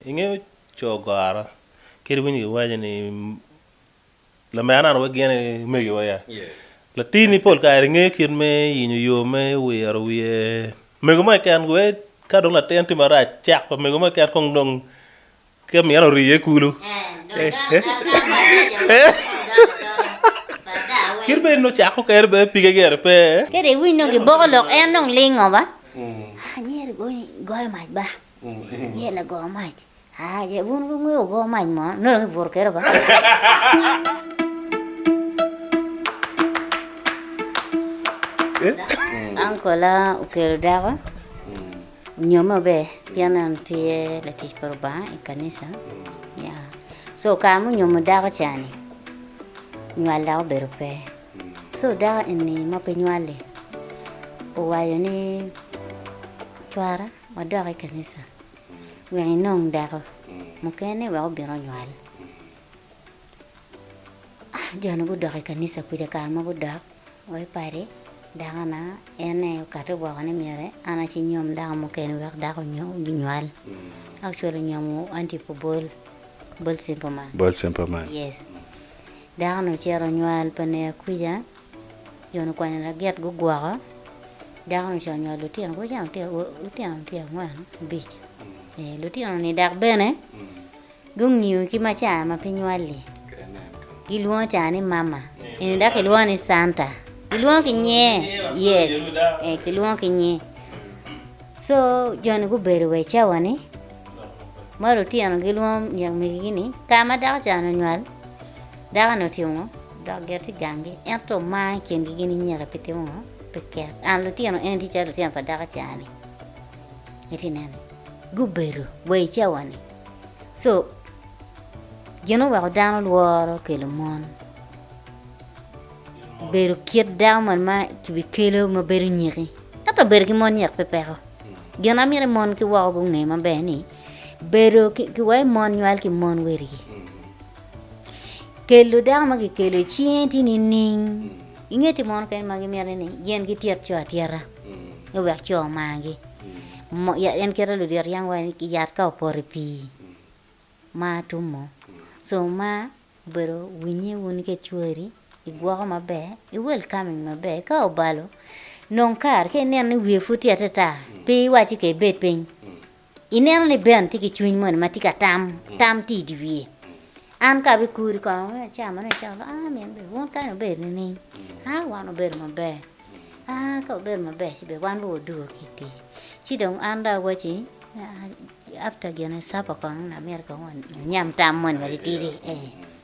I nge cogora kadi winyo giwaco ni lamerana onongo gin aye omegiwa ya. Latinni pol kare ngeyo kit me yenyo yo me wiro wiye mego mo keken wee ka dong latin tye marac cek pa mego mo keken kong dong ke mine ori iye kulu. Kit me nongo cako kene bene pige gire pe. Kadi winyo giboko lok en dong lingo ba. Ye lago mac. Ah, ye wun wungeyo go mac mo, nongo dong ibuto kere ba. Ankola okelo dako onyo maber pien en tye latic pa Lubanga i kanisa. Ya. So kare munyomo dako cani, nywal dok obedo pe. So dako eni ma pe nywali owaco ni cwara Wadok i kanisa wek inong dako mukene wek obin onywal. Jo-ni gudok i kanisa kuca kare mogo gudok wa i padi, dakona en aye okati woko ni myero an aye ci nyom dako mukene wek dako onywal. Actually onyomo anti pu Bol, Bol Simple Man. Bol Simple Man. Yes. Dako-ni ocito onywal pa Nia Kwica. Jon okwanyo lagit gugwoko. Dako-nu ca onywalo lutino, kadi cen lutino tye angwen, abic, ee lutino-ni dok bene gungiyo ki ma ca ma pe nywal-li, gilwongo ca ni mama, eni dok kilwongo ni Canta, kilwongo ki nyer, yes, ee kilwongo ki nyer. Co joni gubedo wa i cawa-ni ma lutino gilwongo myek megi-gi ni ka ma dako ca-ni onywal. Dako-ni otimo ngo? Odok gire tye gangi, ento omar i kingi gin inyeka pi timo ngo? Pi ket. An lutino eni tye calo lutino pa dako cani. Itye ineno? Gubedo wa i cawani. So, gin oweko dano lworo kelo mon. Bedo kit dako man ma kibikelo ma bedo nyeki. Ento bedo ki mon nyek pe peko. Gin amito i mon ki woko gunge maber ni bedo ki, ki wa i mon nywal ki mon werigi. Kelo dako ma kikelo i cinge tye nining? Inge timo munu kene ma gimiti ni gin gityet co atyeta ni wek co omagi. Mo- ya- En kite lulyet yam waci ni yat ka opoto i pii mar tum mo. So mar obedo winye wun ki cwari, igwoko maber, i welcoming maber. Ka obalo nong kare ka ineno ni wiye pud tye ateta pe iwac ci ka ibed piny Ineno ni Ben tye ki cwiny moni ma tye ka tam, tam tye i dye wiye. An ka abikuri kong me acama ni acama ba, ah min bene wun kany wubedo nining? Ah wan wubedo maber. Ah ka wubedo maber ci bene wan bene wadugo ki i pii. Ci dong an dong awacci after gin supper kong amyero kong wanyam tam moni matitidi.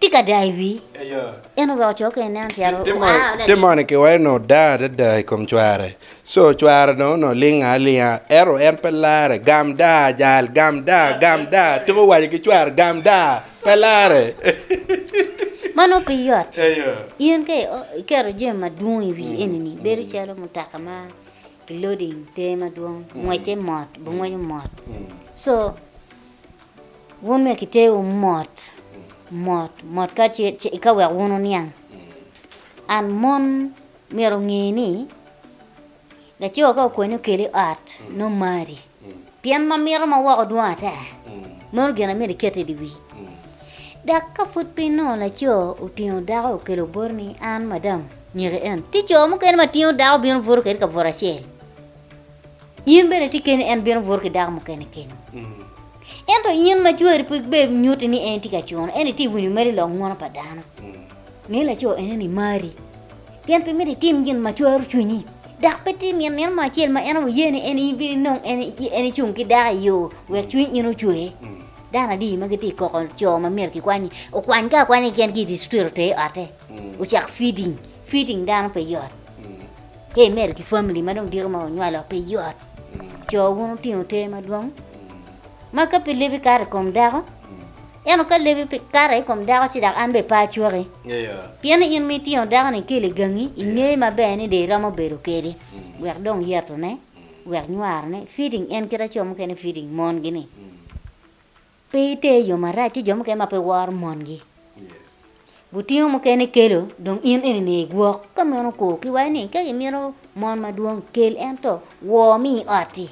Tika daa i wii? En orwako coo kene nen calo Timo moni ki weko nongo daa adada i kom cware. Co cware dong onongo linga alinga ento en pe lare. Gam daa ajal, gam daa, gam daa, tuko waco ki cware gam daa, pe lare. Ma nongo pe yot. In ka iketo jami madwong i wii eni-ni bedo calo mutoka ma ki loading pe madwong, ngwecce mot, bungweco mot. So. Wun myero kitewu mot, mot, mot ka ce eka wek wun wuniang. And mon myero onge ni laco ka okweni okeli i ot nongo omari pien ma mito ma woko dwong ata. Meno gin ma myero iket i dye wii. Dok ka pud piny nongo laco otingo dako okelo boti ni an madam nyeki en, tye co mukene ma tingo dako bino buto kwede i kabuto acel. In bene itye keni, en bino buto ki dako mukene kenwu. Ento in ma cwari pe bed nyutti ni en tye ka cuno, ento itye winyo mere i lok ngwono pa dano, nge laco enoni imari, pien pe myero itim gin ma cwaro cwinyi, dok pe tim gin nino mo acel ma en wuye ni en ibino inong en en icung ki dako i yo wek cwiny in ocwer. Dano adi ma gitye ka koko co ma myero kikwanyi? Okwanygi akwanya keken ki i distrik oter i ote, ocak feeding. Feeding dano pe yot. Ka imedo ki famili ma dong diko ma wunywalo pe yot. Co wun wutingo ter madwong. Ma ka pe lebi kato i kom dako, ento ka lebi pe kato i kom dako ci dok an bene pe acwaki. Pienni in ma itingo dako-ni ikelo i gangi, ingeyo maber ni dong iromo bedo kwede wek dong yetone, wek nywarone, fitting en kit ma co mukene fitting mongi-ni. Pe iter i yo marac, tye jo mukene ma pe woro mongi. Gutingo mukene kelo, dong in eni ni igwok. Ka meno kor ki wai ni ka imito mon madwong, kel ento wor mi i ot-ti.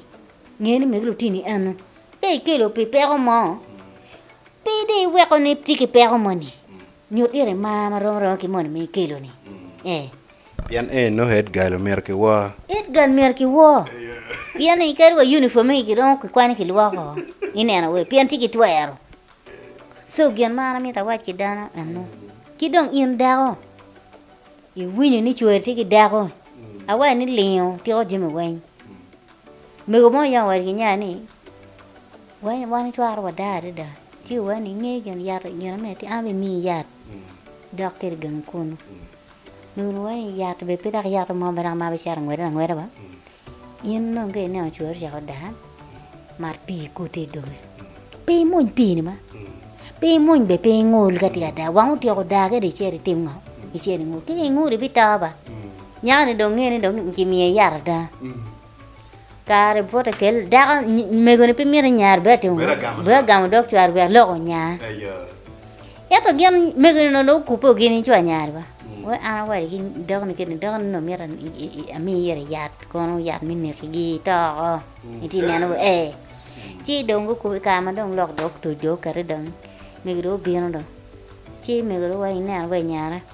Nge ni megi lutini eno. Ka ikelo pi peko mo, pe dong iweko ni tye ki peko moni. Nyut ite mar ma romo romo ki moni ma ikelo-ni. Pien ee nongo Edgal omyero kiwor. Edgal myero kiwor. Pien ni kadi wa uniform egi kiromo kikwani kilwoko i neno wer pien ci gitwero. Co gin ma an amito awac ki dano eno. Ki dong in dako iwinyo ni cwari tye ki dako awaco ni lingo tiko jami weny. Mego mo oyongo wadi ki nya ni weny wan icwaro wada adada ci owene inge gin yat gin ame tye an bene imiyi yat dok kede gangi kunu. Nunu wai yat be pe dok yat mo bene ma bicito ngwede angweda ba in dong ka ineno cwari ocako odaa mat pii ikute i doge pe imwony pii ni ma pe imwony be pe ingol ka tye ka daa wang otyeko daa kede icito itim ngo icito ingol ka ingol ibito ba nyaka ni dong nge ni dong kimiye yat ada. Kare bot ekel dako megoni pe miti nyare bene atimo bene agamo dog cware wek lok onya ento gin megoni onongo dong okubbe gini cwa nyare ba wai an awacci ki dakoni kit ni dakoni onongo miti ami ire yat kono yat me nekigi itoko iti neno wa ee ci dong gukubbe i kare ma dong lok dog otuc dong okati dong mego dong obino dong ci mego dong wai ineno wa inyara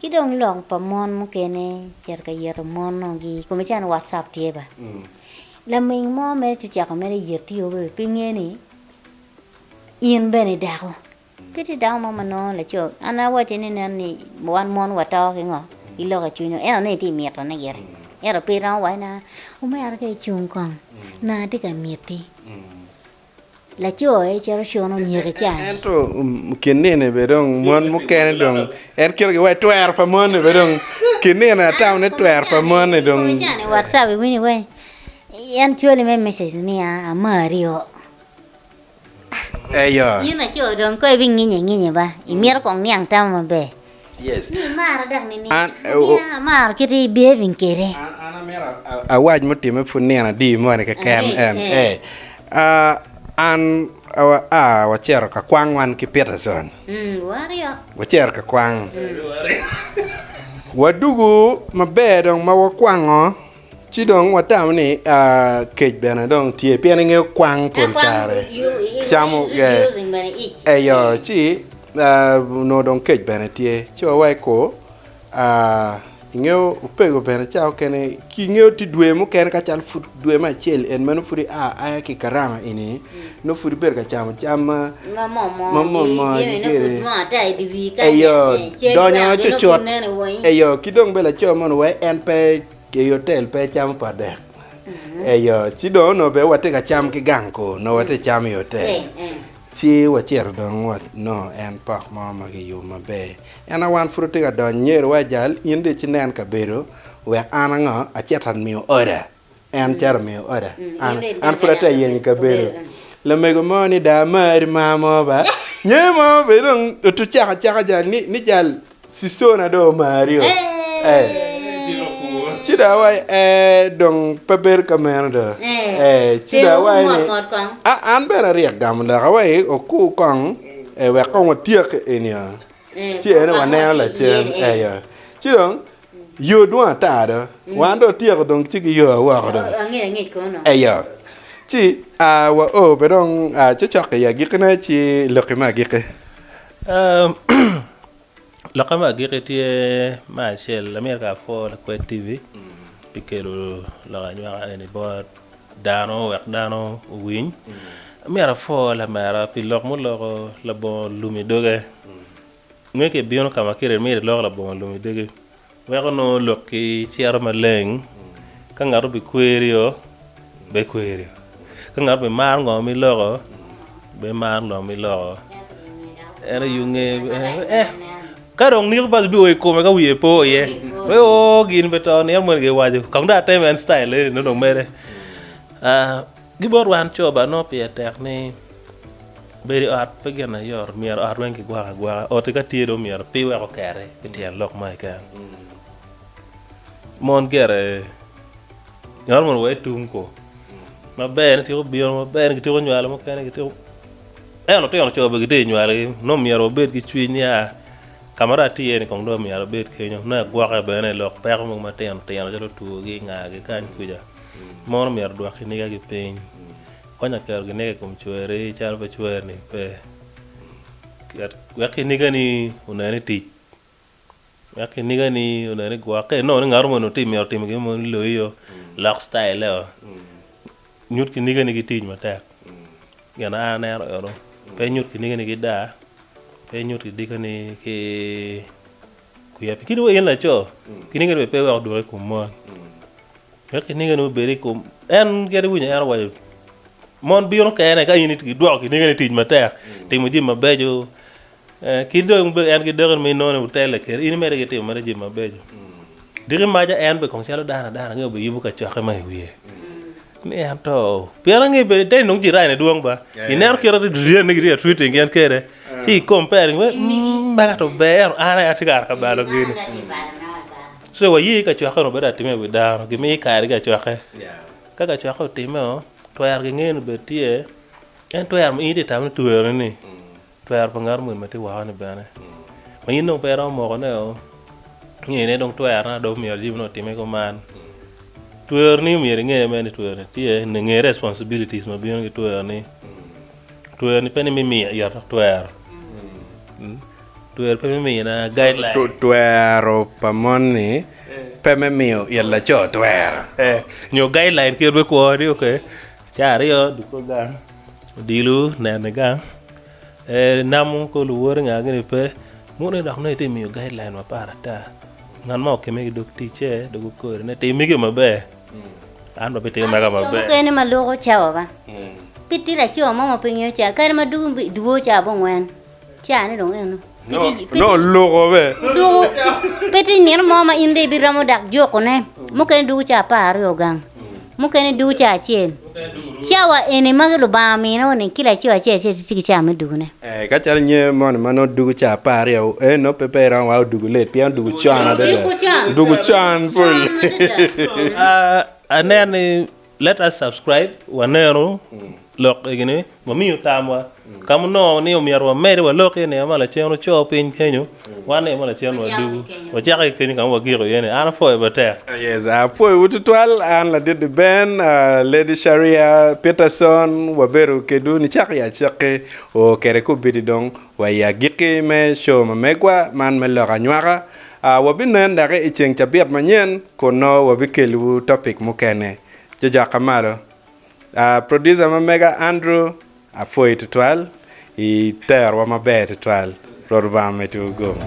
Ki dong lok pa mon mukene cito ka yeto mono gi i kome calo whatsapp tye ba laming mo mere tye cako mere yet yo bene pe nge ni in bene i dako pe tye dako mo ma nongo laco an awacce ni nen ni wan mon wa to ki ngo ki loko cwiny wa ento nongo itye mito ne gire ento pe iromo waci na omera ka icung kong na atye ka miti. Laco-ni cito cunu onyiki caa-ni. Ento kin nino bene dong mon mukene dong en ketogi wa i twero pa moni bene dong kin nino atamo ni twero pa moni dong. Kong cani WhatsApp iwinyo wai en cwali me message ni a amari o. Eyo. Yin laco dong ko ibinginye nginye ba, imito kong niang tama maber. Yes. Ni imara dok ni ni amaro kit i behaving kede. An amira awac mutime pud nino adi moni keken en e an a wacero ka kwang wan ki Peterson. Wacero ka kwang. Wadugu maber dong ma wakwango. Ci dong watamo ni kec bene dong tye pien ingeyo kwang pol kare camo eyo ci onongo dong kec bene tye ci wa wai ko ingeyo opego bene cawa mukene ki ingeyo tye dwe mukene ka calo pud dwe me acel en meno pud ia aya ki karama eni nongo pud ibedo ka camo cam ma momoni kede eyo donyo cucut eyo ki dong bene laco moni wai en pe i otel pe ecamo pa dek eyo ci dong onongo bene watye ka cam ki gang kor nongo watye ka cam i otel ci wacito dong wanongo en pok mo ma kiyubo maber en aye wan pud watye ka donyo nyerowa ajal in dong icinen kabedo wek an ango acit amiyo order. en cito omiyo oda. An, an pud ate yenyo kabedo. Lamego mo ni da amari ma mo ba. Nye mo be dong otu caka caka jal ni ni jal sisona do omari o. Eh. Ci da awai eh dong pe bedo ka meno do. Eh. Ci da awai ni. A an bene aryek gamo lok awai oku kong eh wek kong watyek eni o. Ci ene waneno lacen eh yo. Ci dong Yo dwong ata do, wan dong watyeko dong ci ki yowa woko dong. Oh, angec angec kono no. Eyo. Ci a wa o pe dong a ci cok i agikkine ci lokki me agikki. Um, lokke me agikki tye me acel, amyero ka apwor lakwed TV pi kelo lok anywaka eni bot dano wek dano owiny. Amyero apwor lamera pi lok muloko labongo lum i doge. Nge ki ibino ka ma kire imito ilok labongo lum idegi, wek onongo lokki cito maleng. Ka ngat obikwerio, bekwerio. Ka ngat obimaro ngo ma iloko, bimar ngo ma iloko. En aye onge. Eh, ka dong niko bas biwo i kome ka wiye po iye. Pe o gin pe to, nino moni giwaco. Kong dong atem en style eni nongo dong mere. Ah, Ki bot wan coba, nongo pire tek ni bedo i ot pe gin ayot. Myero ot weng kigwoko agwoka. Oti ka tye dong myero pi weko keri pi tyen lok mo keken. Mon gire ngat mono wa itung ko maber ni tyeko bino maber ni gityeko nywalo mukene gityeko ento lutino co bene gitye nywalo gi nongo myero wabed ki cwiny ni aa ka ma dong atye iye ni kong dong myero abed kenyo nongo agwoke bene lok peko mogo matino tino calo two gi inga gi kany kuca. Mon omyero odwok kinigagi piny. Kony ka keto kiniga i kom cwerri calo pe cwerni pe. Ket wek kinigani onen ni tic. Wek kinigani onen ni gwok. Ka inongo ni ngat moni onongo tye myero otim gin mo ni loyi o, lok citayile o. Nyut kinigani ki tic matek. Gin an aneno eno. Pe inyut kinigani ki daa. Pe inyut kinigani ki. Kwiya pi kit ma in laco kinigeni bene pe iwek odwoki i kom mon, wek kinigeni obed i kom. En gire iwinyo en owaco, Mon bino kene ka in idwoko kinigeni tic matek, timo jami mabeco, eh, ki dong be en ki dakeni ma inonone wutelle kede, in imedde ki timo mere jami mabeco. Diki maca en be kong calo dano adana nge obiyubo kacokke ma i wiye. Ento pien angeyo bene te nongo jirani ne dwong ba. Ineno kit ati diriyan ne gitye atwiti gin kede. Ci i compare ni wek mm mega to ber ento an aye atye kara ka balo gini. So waye i kacokke onongo bedo atime wi dano gimiyo kare ki acokke. Ka kacokke otime o twero ki ngeyo ni bed tye en twero ma in itye ka tamo ni twero ni ni. Twero pa ngat omwemme tye woko ni bene ma in dong pe iromo moko ne o nge ne dong twero na dong myero jami ne otime kuman twero ni myero inge me ni twero ni tye ne nge responsibilities ma bino ki twero ni twero ni pe ni me miyo ito dok twero twero pe me miyo na guideline Twero pa mon ni pe me miyo it laco twero. eh nyo guideline kit me kwo ni okay Caa aryo duko gang, odilo neno i gang, namo kor luwot inge gini pe. Moni dok nongo itye miyo guideline mapar ata. Ngat ma okemme ki dog ticce dog okori ni tim mege maber, an bene abitimo mega Coo maber. mukene ma luko cawa ba. Pe tye laco mo ma pe ngeyo caa. Kare ma dugo duwo caa abongwen. Cani dong eno. No luko be. Duku pe ti nino mo ma in de ibiromo dak jukune. Mukene duku ca apar aryo gang. Mukene duku ca acel. Cawa eni magi Lubanga mino ni kila co acel acel tye ki cawa me dukune. Eh, ka calo nye moni ma no duku ca apar aryo, eh, no pe pe iromo wa oduku let, pien oduku con adada. Duku can. Duku can pol. Ah, aneno ni Let us subscribe wanenu lok egi ni wamiyo tamwa ka munongo ni omyero wamedi walok iye nino ma lacen oco piny kenyo wan nino ma lacen wa dugu wacako ki kenyo ka ma wagiko iye ni an apwoyo matek. Yes apwoyowu tutwal an ladit-ti Ben, Lady Sharia Peterson wabedo kedwu nicak i acakki oo kede kobedi dong Wa i agikki me Show ma Megwa man me Lok Anywaka, wabinen daki i ceng cabit manyen kun nongo wabikelliwu topic mukene. Jojok ka malo. Producer ma mega Andrew, apwoyi twatwal i terowa maber twatwal. Rwot Lubanga omeddi gugu.